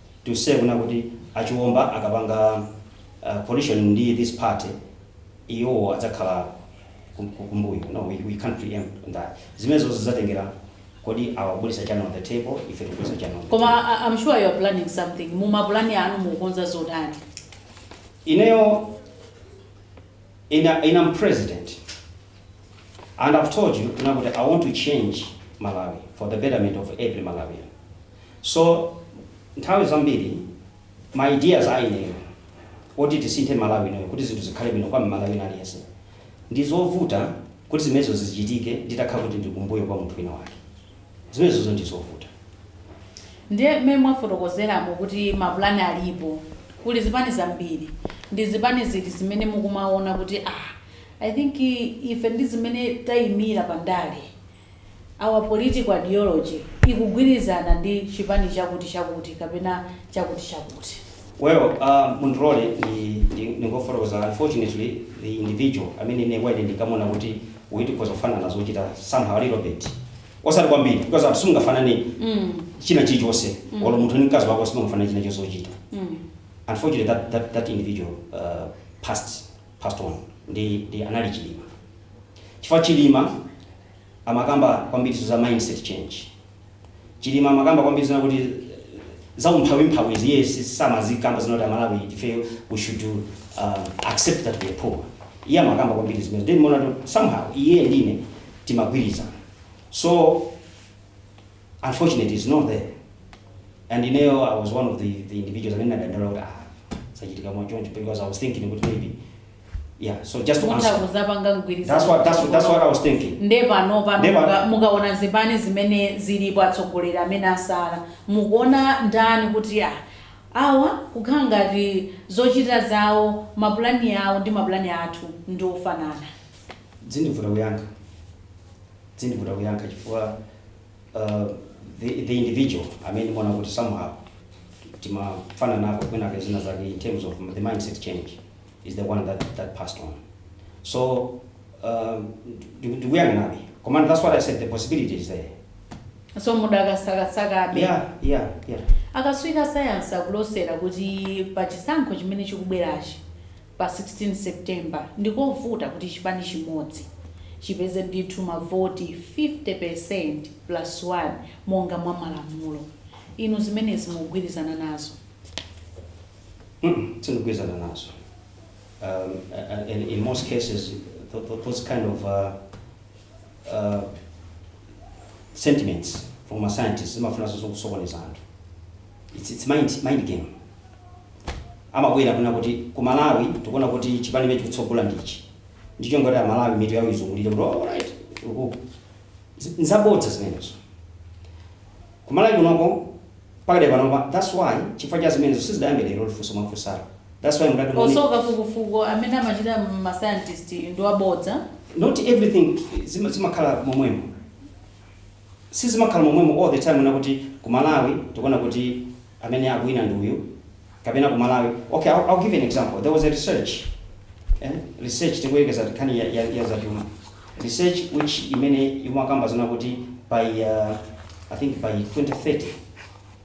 to say kunena kuti a Chiomba akapanga coalition ndi this party iwowo adzakhala kumbuyo no we, we can't preempt that zimenezo zidzatengera kodi awa akubweretsa chani on the table ife tikubweretsa chani on the table. Koma I- I'm sure you are planning something m'mapulani anu mukukonza zotani ineyo in, a, in I'm president and I've told you kunena kuti I want to change Malawi for the betterment of every Malawian So nthawi zambiri ma ideas a ineyo oti tisinthe Malawi inoyo kuti zinthu zikhale bwino kwa m'Malawi wina aliyense, ndi zovuta kuti zimenezo zichitike nditakhala kuti ndili kumbuyo kwa munthu wina wake. Zimenezozo ndi zovuta. Ndiye mmene mwafotokozeramo kuti mapulani alipo, kuli zipani zambiri, ndi zipani ziti zimene mukumaona kuti ah, I think ife ndi zimene taimira pa ndale? Our political ideology ikugwirizana ndi chipani chakuti chakuti kapena chakuti chakuti. Well uh mundilole ndi ndi ndingofotokoza unfortunately the individual amene ine kwa ine ndinkamuona kuti uyu tikhoza kufanana zochita somehow a little bit osati kwambiri because anthu simungafanane china chilichonse olo munthu ndi mkazi wako simungafanane china chonse chochita unfortunately that that that individual uh passed passed on ndi ndi anali chilima chifukwa chilima amakamba kwambiri za mindset change chilima amakamba kwambiri zonena kuti za umphawi mphawizi iye si- samazikamba zonena kuti aMalawi ife we should um, accept that we are poor iye amakamba kwambiri zimenezi nde ndimaona somehow iye ndine timagwirizana so unfortunately he's not there and ineyo i was one of the, the individuals amene ndinadandaula kuti ah zachitika mwachoncho because i was thinking kuti maybe yeah so just to mutha answer kudzapanga mgwirizano that's what that's, what- that's what i was thinking nde pano pano Nde pano. muka- mukaona zipani zimene zilipo atsogoleri amene atsala mukuona ndani kuti a awa kukhala ngati zochita zawo mapulani awo ndi mapulani athu ndi ofanana zikundivuta kuyankha Zikundivuta kuyankha chifukwa uh, the, the individual amene ndimaona kuti somehow timafananako kwinake zina zake in terms of the mindset change is the one that, that passed on so um, ndiku- ndikuyang'anabe komano that's what i said the possibility is there so mudakasakasakabe yeah yeah yeah akatswiri a sayansi akulosera kuti pa chisankho chimene chikubwerachi pa 16 September ndikovuta kuti chipani chimodzi chipeze ndithu mavoti 50% plus 1 monga mwa malamulo. Inu zimenezi mukugwirizana nazo? Sindikugwirizana nazo and in most cases those kind of sentiments from a scientist zimafunanso kusokoneza anthu. Its its mind mind game amabwera kunena kuti ku Malawi tikuona kuti chipani chimene chikutsogola ndi ichi ndi cholinga kuti amalawi mitu yawo izungulire kuti alright uku Zi- nzabodza zimenezo ku Malawi kunoko pakadali panopa that's why chifukwa cha zimenezo sizidayambe lero funso mwafunsalo that's why mudati muone- nso kafukufuku amene amachita ma scientist ndi wabodza not everything zima- zimakhala momwemo sizimakhala momwemo all the time kunena kuti ku malawi tikuona kuti amene akuwina ndi uyu kapena ku malawi okay I'll, I'll give you an example there was a research eh? research tikuyekeza nkhani ya, ya, ya zachuma research which imene imakamba zona kuti by uh, i think by 2030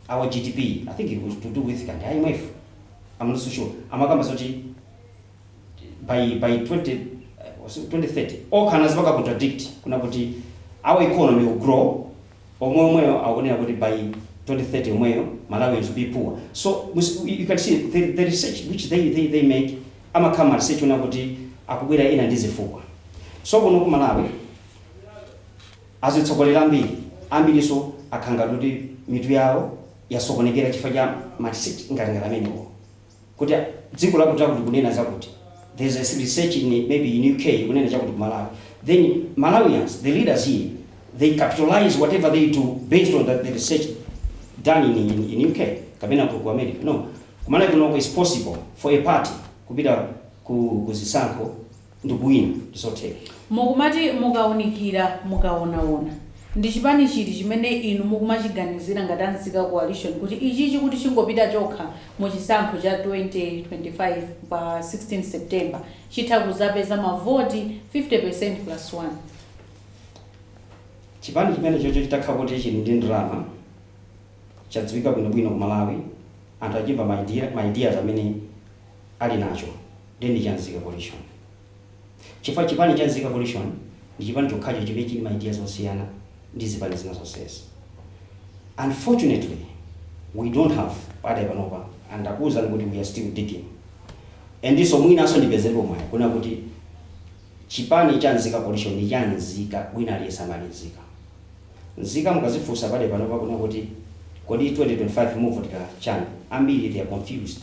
our gdp i think it was to do with kaya imf i'm not so sure amakamba zoti by by 20 was it 2030 okha anazipanga contradict kunena kuti our economy will grow omwe omweyo akunena kuti by 2030 omweyo malawians will be poor so we s- you can see the, the research which they, they, they make amakhala ma research onena kuti akubwera ena ndi zifukwa so kuno ku malawi azitsogolera ambiri ambirinso akhala ngati mitu yawo yasokonekera chifukwa cha ma research ngati ngati amenewo kuti dziko lakuti lakuti likunena zakuti there's a research in maybe in UK ikunena chakuti ku Malawi then Malawians the leaders here they capitalize whatever they do based on that the research done in, in, in UK kapena ku, ku America no kumalawi kunoko it's possible for a party kupita ku, ku zisankho ndikuwina ndizotheka. Mukumati mukaunikira mukaonaona, ndi chipani chiti chimene inu mukumachiganizira ngati a Nzika Coalition kuti ichichi kuti chingopita chokha mu chisankho cha 2025 pa 16 September chitha kuzapeza ma voti 50% plus one? Chipani chimenechocho chitakhala kuti chili ndi ndalama, chadziwika bwinobwino ku Malawi, anthu achimva ma ideas amene. ali nacho ndiye ndi cha Nzika Coalition chifukwa chipani cha Nzika Coalition ndi chipani chokhacho chimene chili ma ideas osiyana ndi zipani zina zonsezi. Unfortunately we don't have pakadali panopa and ndakuwuzani kuti we are still digging and so mwinanso ndipezerepo mwayi kunena kuti chipani cha Nzika Coalition ndi cha nzika wina aliyense amene ali nzika. Nzika mukazifunsa pakadali panopa kunena kuti kodi 2025 muvotera chani ambiri they are confused.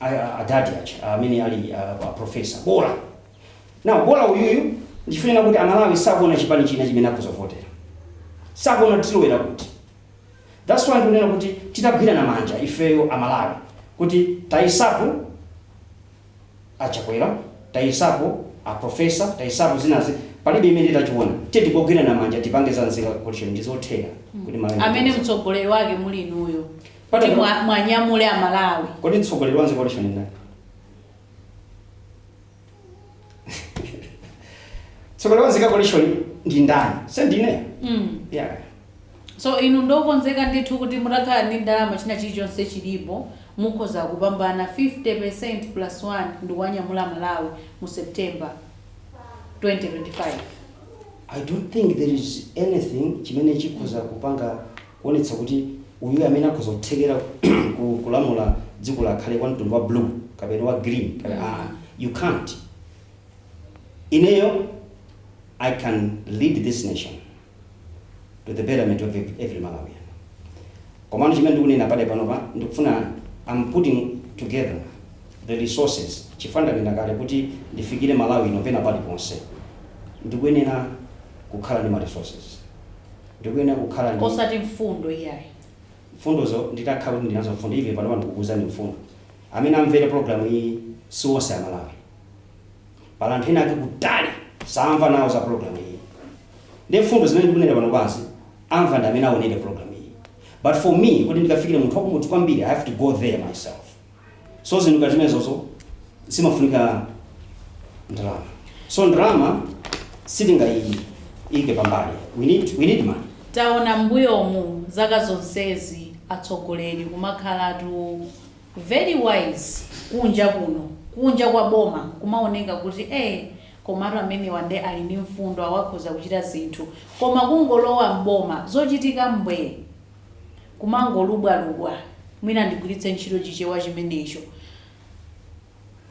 a adadi aja amene ali a, a professor bola now bola uyuyu ndikunena kuti amalawi sakuona chipani china chimene akhoza kuvotera sakuona tilowera kuti that's why ndikunena kuti titagwirana manja ifeyo amalawi kuti tayesapo aChakwera tayesapo aprofesa tayesapo zinazi palibe chimene tachiona tiyeni tigwirane manja tipange za nzika coalition ndizotheka kuti Malawi amene mtsogoleri wake muli inuyo kuti mwa- mwanyamule amalawi kodi mtsogoleri wa nzika coalition ndani mtsogoleri wa nzika coalition ndi ndani si ndine mm. yeah. so inu ndokonzeka ndithu kuti mutakhala ndi ndalama china chilichonse chilipo mukhoza kupambana 50 plus 1 ndikuwanyamula amalawi mu september 2025 i don't think there is anything chimene chikhoza kupanga kuonetsa kuti uyu amene akhoza kuthekera ku kulamula dziko lakhale wa mtundu wa blue kapena wa green kapena Mm. aa you can't ineyo i can lead this nation to the betterment of ev- every malawian komano chimene ndikunena pade panopa ndikufuna i'm putting together the resources chifukwa ndanena kale kuti ndifikire malawi yino pena paliponse ndikuyenera kukhala ndi ma resources ndikuyenera kukhala ndi. osati mfundo iyayi. mfundozo nditakhala kuti ndili nazo mfundo. Even panopa ndikukuuzani mfundo. Amene amvere program iyi si onse a Malawi. Pali anthu ena akutali samva nawo za program iyi. Ndiye mfundo zimene ndikunena panopazi amva ndi amene aonere program iyi. But for me kuti ndikafikire munthu wakumudzi kwambiri I have to go there myself. so zinthu ngati zimenezozo zimafunika ndalama so ndalama sitingaiike pambali we need, we need money taona mbuyomu zaka zonsezi atsogoleri kumakhalatu very wise kunja kuno kunja kwa boma kumaoneka kuti eh komatu amenewa nde ali ndi mfundo awa akhoza kuchita zinthu koma kungolowa mboma zochitika mbwee kumangolubwalubwa, mwina ndigwiritse ntchito Chichewa chimenecho,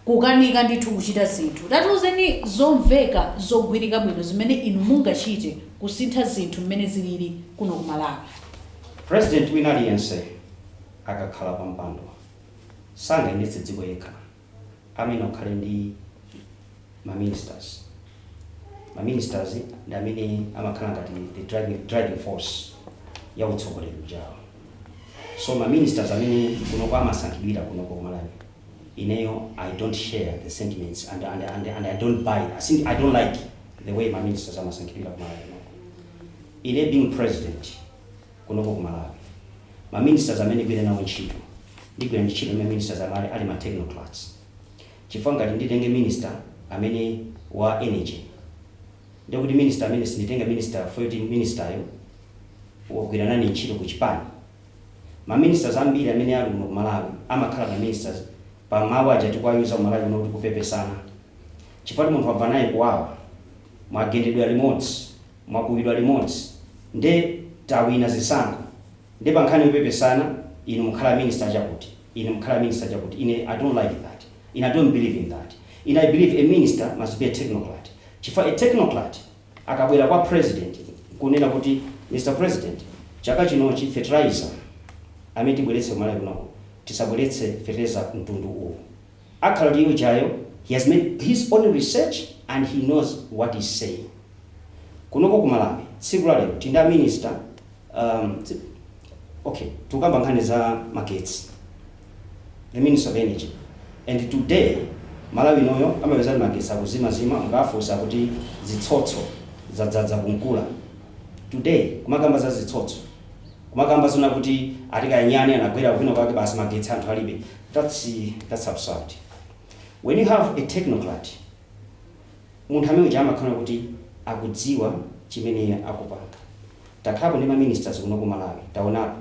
kukanika ndithu kuchita zinthu. Tatiuzeni zomveka, zogwirika bwino zimene inu mungachite kusintha zinthu mmene zilili kuno ku Malawi. President wina aliyense akakhala pampando sangayendetse dziko yekha. amene akhale ndi ma ministers. Ma ministers ndi amene amakhala ngati the driving, driving force ya utsogoleri ujawo. So ma ministers amene kunoko amasankhidwira kunoko kumalawi ineyo I don't share the sentiments and, and, and, and I don't buy it, I don't like the way ma ministers amasankhidwira kumalawi kunoko. Ine being president kunoko ku Malawi ma ministers amene ndigwire nawo ntchito ndigwira ntchito ndi ma ministers amene ali ma technocrats chifukwa ngati nditenge minister amene wa energy ndiye kuti minister amene sinditenga minister poti ministeryo wagwira nane ntchito ku chipani ma ministers ambiri amene ali kuno ku Malawi amakhala ma ministers pa mawu aja timawayuza ku Malawi kuno kuti kupepesana chifukwa munthu wamva naye kuwawa mwagendedwa limodzi mwakuwidwa limodzi nde tawina zisankho nde pankhani yopepesana inu mukhala minister chakuti inu mukhala minister chakuti ine I don't like that ine I don't believe in that ine I believe a minister must be a technocrat chifukwa a technocrat akabwera kwa president nkunena kuti Mr president chaka chinochi fertilizer amene tibweretse ku Malawi kunoku tisabweretse fetereza mtundu uwu Akhala ndi ujayo he has made his own research and he knows what he's saying. Kunoko ku Malawi tsiku la lero tili ndi a minister um ok tikukamba nkhani za magetsi the minister of energy and today Malawi inoyo amapeza kuti magetsi akuzimazima mukawafunsa akuti zitsotso zadzaza ku Nkula. Today kumakamba za zitsotso kumakamba zona kuti ati kaya nyani anagwera kwina kwake basi magetsi anthu alibe. That's that's absurd when you have a technocrat munthu amene uja amakhala kuti akudziwa chimene akupanga takhalapo ndi ma ministers kuno ku Malawi taonapo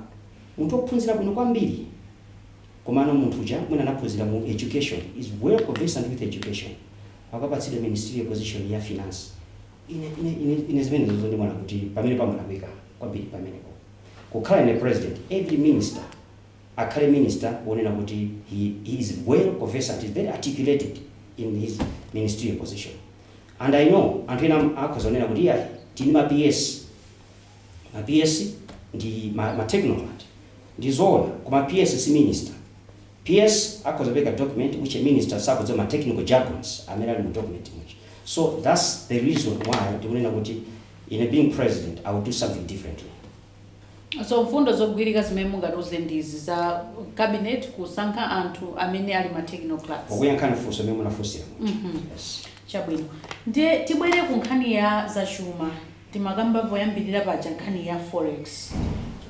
munthu ophunzira bwino kwambiri komano munthu uja mwina anaphunzira mu education he's well conversant with education akapatsidwa ministerial position ya finance ine ine ine ine zimenezozo ndimaona kuti pamene pamalakwika kwambiri pamenepo kukhala ine president every minister akhale minister wonena kuti he he is well conversant he's very articulated in his ministerial position and i know anthu ena akhoza kunena kuti iyayi tili ndi ma PS ma PS ndi ma ma technocrat ndizoona koma PS si minister PS akhoza kupeka document which a minister sakudziwa ma technical jargons amene ali mu document muja so that's the reason why ndikunena kuti ine being president i will do something differently. So mfundo zogwirika zimene mungatiuze ndi izi za cabinet kusankha anthu amene ali ma technocrats. Pokuyankhani funso limene munafunsira muja. Yes. Chabwino. Ndiye tibwere ku nkhani ya zachuma. Timakamba poyambirira paja nkhani ya forex.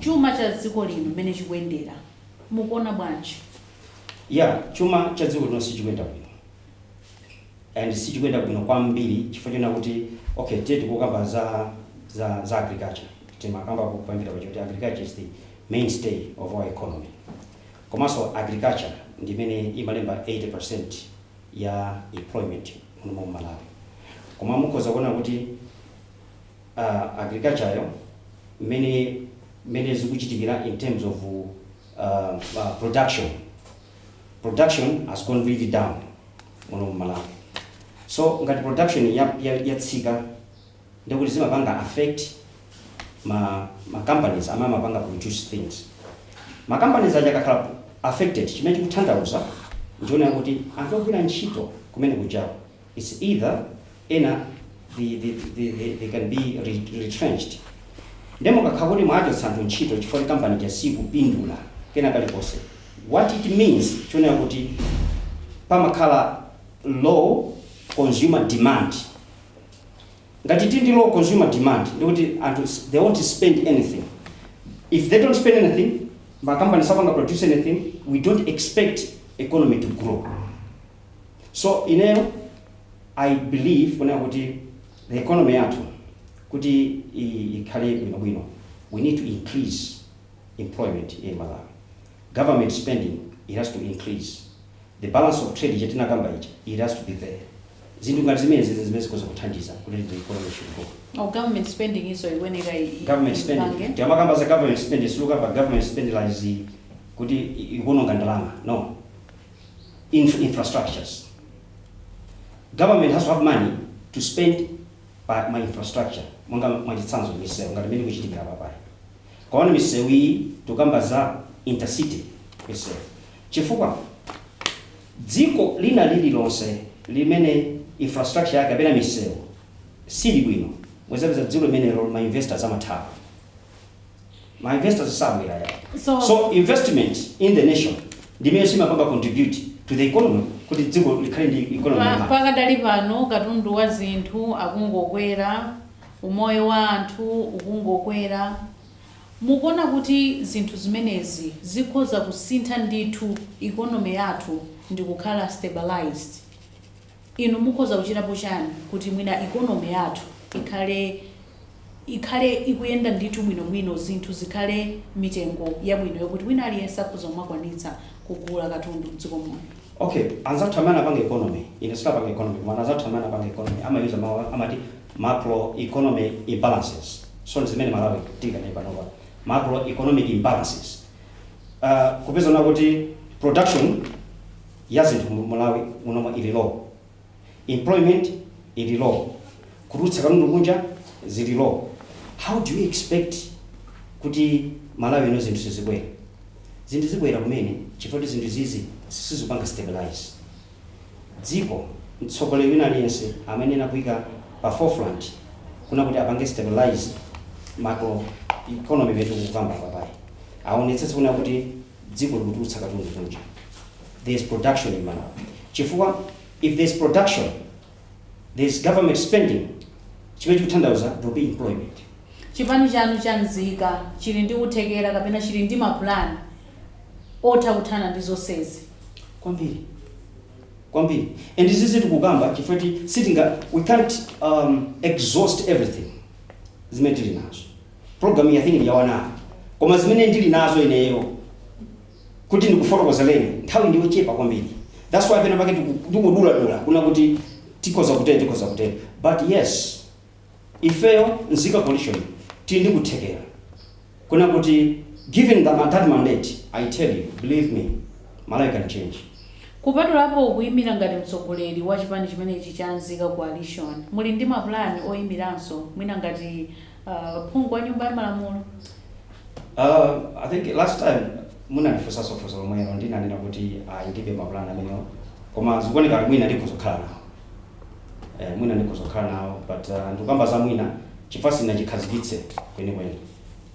Chuma cha dziko lino mmene chikuyendera mukuona bwanji? Yeah, chuma cha dziko lino sichikuyenda bwino. and sichikuyenda bwino kwambiri chifukwa chonena kuti okay tiye tikukamba za za za agriculture timakamba poyambirira paja kuti agriculture is the mainstay of our economy komanso agriculture ndi imene imalemba 80% ya employment muno mu Malawi koma mukhoza kuona kuti uh, agriculture yo mmene mmene zikuchitikira in terms of uh, uh, production production has gone really down muno mu Malawi so ngati production ya, ya, yatsika ndekuti zimapanga affect ma, ma companies amene amapanga produce things ma companies aja akakhala affected chimene chikutanthauza n'chonena kuti anthu ogwira ntchito kumene kujawo It's either ena they, they, they, they, they can be re- retrenched nde mukakhala kuti mwachotsa anthu ntchito chifukwa kuti kampani ja sikupindula kena kalikonse what it means tiona kuti pamakhala low consumer demand ngati tili ndi low consumer demand ndikuti anthu s- they won't spend anything if they don't spend anything makampani sapanga produce anything we don't expect economy to grow So ineyo I believe kunena kuti the economy yathu kuti i- ikhale bwinobwino we need to increase employment in Malawi. Government spending it has to increase. The balance of trade chimene tinakamba ichi it has to be there. Zinthu ngati zimenezi ndi zimene zikhoza kuthandiza kuti the economy should grow. Oh, government spending iso ikuyenera i- i- Government spending. ipange. Tikamakamba za government spending, sitikukamba government spending like zi kuti i- ikuononga ndalama. No. inf infrastructures. Government has to have money to spend pa ma infrastructure monga mwachitsanzo misewu ngati mmene zikuchitikira apapayi mwaona misewu iyi tikukamba za intercity misewu chifukwa dziko lina lililonse limene infrastructure yake kapena misewu sili bwino muzapeza dziko limenelo ma investors amathawa ma investors sabwera ya So- so investment in the nation ndi imene imapanga contribute to the economy kuti dziko likhale ndi economy Pa- yamaka. pakadali pano katundu wa zinthu akungokwera umoyo wa anthu ukungokwera mukuona kuti zinthu zimenezi zikhoza kusintha ndithu economy yathu ndi kukhala stabilized Inu mukhoza kuchitapo chani kuti mwina economy yathu ikhale ikhale ikuyenda ndithu bwino bwino zinthu zikhale mitengo yabwino yokuti wina aliyense akhoza kumakwanitsa kugula katundu mdziko muno. Okay anzathu amene anapanga economy ine sindinapanga economy koma anzathu amene anapanga economy ama user mawu amati macro economic imbalances so ndizimene malawi tili nayo panopa macro economic imbalances aah kupeza kunena kuti production, ya zinthu mu Malawi munomu ili low, employment ili low, kutulutsa katundu kunja zili low, how do you expect kuti Malawi ino zinthu sizikwera? Zinthu zikwera kumene chifukwa kuti zinthu izizi sizikupanga stabilize dziko. Mtsogoleri wina aliyense amayenera kuika pa forefront kunena kuti apange stabilize macro economy imene tikukamba apapayi, aonetsetse kunena kuti dziko likutulutsa katundu kunja there is production in malawi chifukwa if there is production there is government spending chimene chikutanthauza there will be employment chipani chanu cha nzika chili ndi kuthekera kapena chili ndi mapulani otha kuthana ndi zonsezi kwambiri kwambiri and izizi tikukamba chifukwa ti sitinga we can't um, exhaust everything zimene tili nazo program iyi i think ndi ya one hour koma zimene ndili nazo ineyo kuti ndikufotokozereni nthawi ndi yochepa kwambiri that's why pena pake tiku- tikuduladula kuna kuti tikhoza kutere tikhoza kutere but yes ifeyo nzika coalition tili ndi kuthekera kuna kuti given that, that mandate i tell you believe me malawi can change kupatulapo kuyimira ngati mtsogoleri wa chipani chimenechi cha nzika coalition muli ndi mapulani oyimiranso mwina ngati Uh, phungu wa nyumba ya malamulo uh, i think last time munandifunsanso funso lomwelo ndinanena kuti ayi ndibe mapulani amenewo koma zikuoneka kuti mwina ndikudzakhala nawo eh, mwina ndikudzakhala nawo but uh, ndikukamba za mwina chifukwa sindinachikhazikitse kwenikweni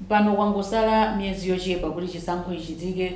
pano kwangosala miyezi yochepa kuti chisankho chichitike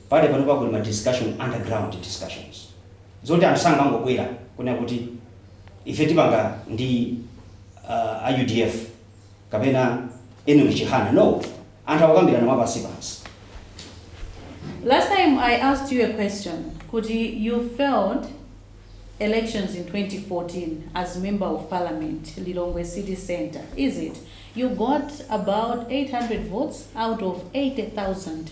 Pakali panopa kuli ma discussion under ground discussions zoti anthu sangangobwera kunena kuti ife tipanga ndi a udf kapena Enock Chihana no anthu akukambirana mwa pansi pansi. Last time I asked you a question kuti you failed elections in 2014 as member of parliament Lilongwe city centre is it you got about 800 votes out of 80,000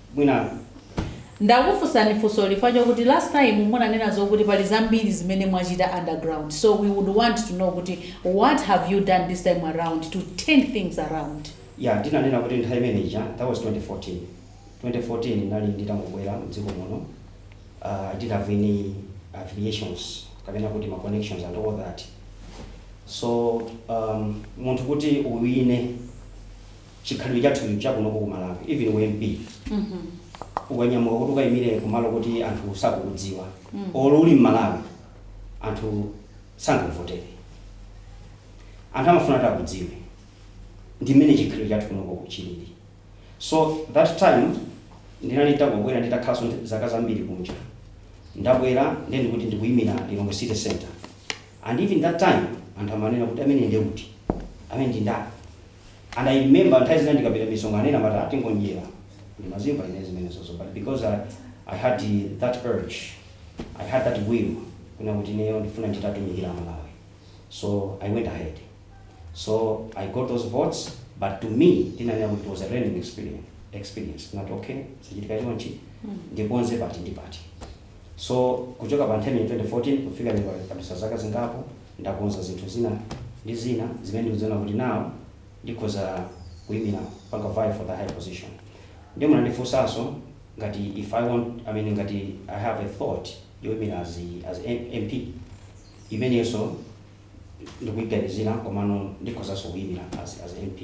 Mwina ndakufunsani funso ili chifukwa chokuti last time munanena zokuti pali zambiri zimene mwachita underground so we would want to know kuti what have you done this time around to turn things around? Yeah, ndinanena kuti nthawi imene ija, that was 2014, 2014 ndinali nditangobwera mdziko muno, I didn't have any affiliations kapena kuti ma connections and all that so munthu kuti uwine, chikhalidwe chathu ichi cha kunoko ku Malawi even u MP ukanyamuka kuti ukayimire kumalo koti anthu sakukudziwa olo uli m'Malawi anthu sangakuvotere. Anthu amafuna kuti akudziwe. Ndi mmene chikhalidwe chathu kunoko chilili. So that time ndinali nditangobwera nditakhalanso zaka zambiri kunja. Ndabwera ndiye ndikuti ndikuyimira Lilongwe City Centre. And even that time anthu amanena kuti ameneyo nde kuti? Ameneyo ndi ndani? And I remember nthawi zina ndikapita misonkhano ena amati ah atingonjera. Ndimazimva ine zimenezozo but because I, I had that urge, I had that will kuna kuti ineyo ndifuna nditatumikira Amalawi. So I went ahead. So I got those votes but to me ndinanena kuti it was a learning experience. experience. Not okay, sichitika chonchi, ndikonze pati ndi pati. So kuchoka pa nthawi 2014 kufika lero padusa zaka zingapo ndakonza zinthu zina ndi zina zimene ndikuziona kuti now ndikhoza kuimira panga vie for the high position. Ndiye munandifunsanso ngati if I want I mean ngati I have a thought yoimira as, as MP imeneyonso ndikuiganizira komano ndikhozanso kuimira as, as MP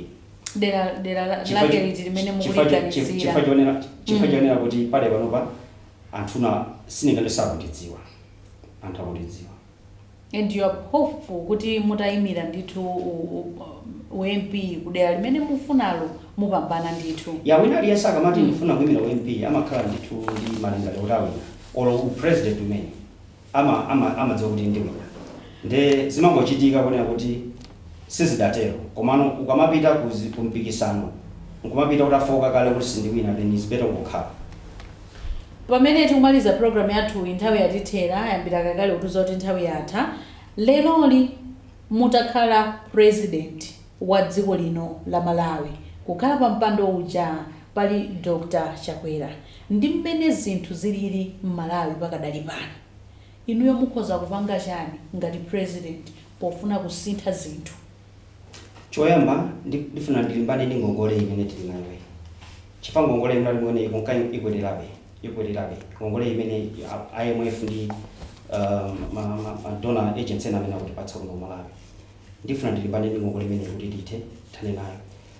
dera dera la- lake liti limene mukuliganizira chifukwa chionera kuti pale panopa anthuna sindingati sakukudziwani anthu akukudziwani. And you are hopeful kuti mutayimira ndithu u, u, u MP kudera limene mufunalo mupambana ndithu. Ya wina aliyense akamati ndifuna kuyimira u MP amakhala ndithu ndi malingaliro kuti awina olo u president umene. ama ama amadziwa kuti ndiwina nde zimangochitika kunena kuti sizidatero komano ukamapita ku zi ku mpikisano nkumapita utafooka kale kuti sindiwina then is better ungokhala. Pamene tikumaliza program yathuyi nthawi yatithera ayambira kalekale kutiuza kuti nthawi yatha, leroli mutakhala president wa dziko lino la Malawi kukhala pa mpando uja pali Dr Chakwera ndi mmene zinthu zilili Mmalawi pakadali pano, inuyo mukhoza kupanga chani ngati president pofuna kusintha zinthu? Choyamba ndi ndifuna ndilimbane ndi ngongole imene tili nayoyi chifukwa ngongole yomwe tili nayo ikunka ikwererabe ikwererabe ngongole imene a IMF ndi ma ma ma donor agencies ena amene akutipatsa kuno ku Malawi ndifuna ndilimbane ndi ngongole imeneyi kuti tithe tithane nayo.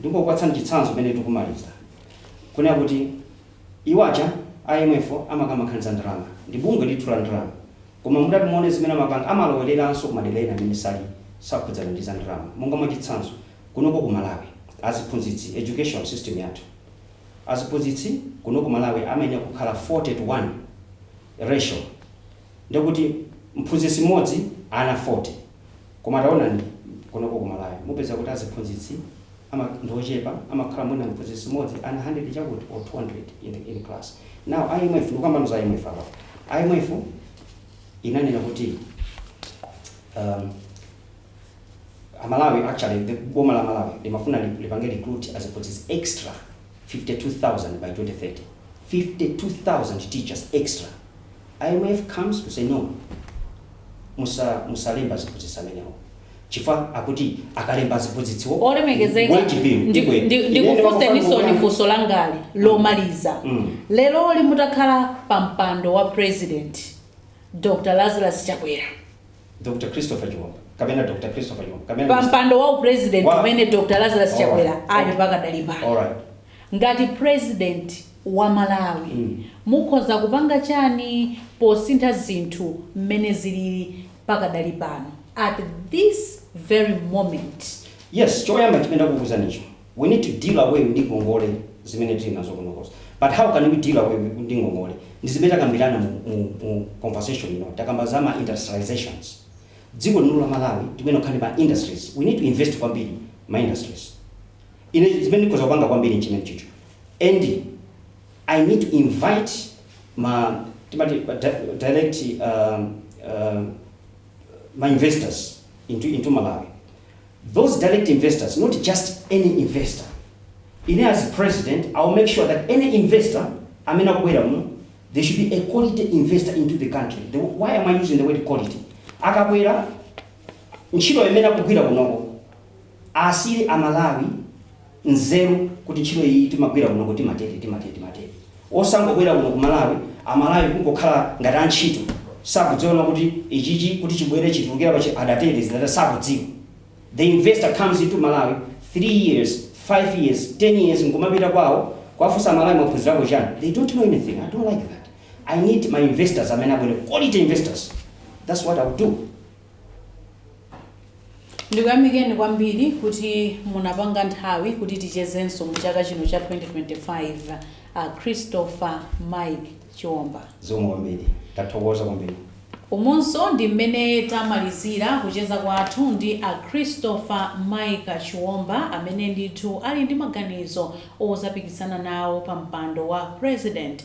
Ndingokupatsani chitsanzo pamene tikumaliza kunena kuti iwo aja a IMF wo amakamba nkhani za ndalama, ndi bungwe ndithu la ndalama koma mutati muone zimene amapanga amalowereranso ku madera ena amene sali sakhudzana ndi za ndalama monga mwa chitsanzo kunoko ku Malawi aziphunzitsi education system yathu aziphunzitsi kuno ku Malawi amayenera kukhala 40 to 1 ratio ndekuti mphunzitsi mmodzi ana 40. Koma taonani kunoko ku Malawi mupeza kuti aziphunzitsi ama ndi ochepa amakhala mwina mphunzitsi mmodzi ana 100 chakuti or 200 in the in class. Now IMF ndikukambano za IMF apapa. IMF inanena kuti um, amalawi actually the boma la malawi limafuna lipange recruit aziphunzitsi extra 52,000 by 2030 52,000 teachers extra imf comes to say no musa musalemba aziphunzitsi amenewo chifukwa akuti akalemba aziphunzitsiwo olemekezeka wage bill ndi- ikwera. ndi- Imene ndikufunseniso ndi funso langali lomaliza Mm. leroli mutakhala pa mpando wa president dr lazarus chakwera Dr. Christopher Chiomba kapena Dr. Christopher Chiomba pa mpando wa upresident umene dr lazarus chakwera ali pakadali pano Alright. ngati president wa malawi Mm. mukhoza kupanga chani posintha zinthu mmene zilili pakadali pano at this very moment Yes, choyamba chimene ndakuuza nicho. We need to deal away ndi ngongole zimene tili nazo kuno coz but how can we deal away wi ndi ngongole ndi zimene takambirana mu mu mu conversation ino takamba za ma industrializations dziko lino la Malawi tikuyenera kukhala ndi ma industries we need to invest kwambiri ma industries ine zimene ndikhoza kupanga kwambiri nchimenechicho and I need to invite ma timati ma di- direct um, um, ma investors into into Malawi those direct investors not just any investor, ine as president I'll make sure that any investor amene akubwera muno they should be a quality investor into the country, the, why am I using the word quality? Akabwera ntchito imene akugwira kunoko asile amalawi nzeru kuti ntchito iyi timagwira kunoko timatere timatere timatere osangobwera kuno ku malawi amalawi kungokhala ngati antchito sakudziwa kuti ichichi kuti chibwere chitulukire pa chi- adatere zidatani sakudziwa the investor comes into malawi 3 years 5 years 10 years nkumapita kwawo kuwafunsa amalawi mwaphunzirako chani they don't know anything i don't like that i need ma investors amene abwere quality investors that's what i will do Ndikuyamikeni kwambiri kuti munapanga nthawi kuti tichezenso mu chaka chino cha 2025. A Christopher Mike Chiomba. Zikomo kwambiri. Tathokoza kwambiri. Umonso ndi mmene tamalizila kucheza kwathu ndi a Christopher Mike Chiomba amene ndithu ali ndi maganizo ozapikisana nawo pa mpando wa President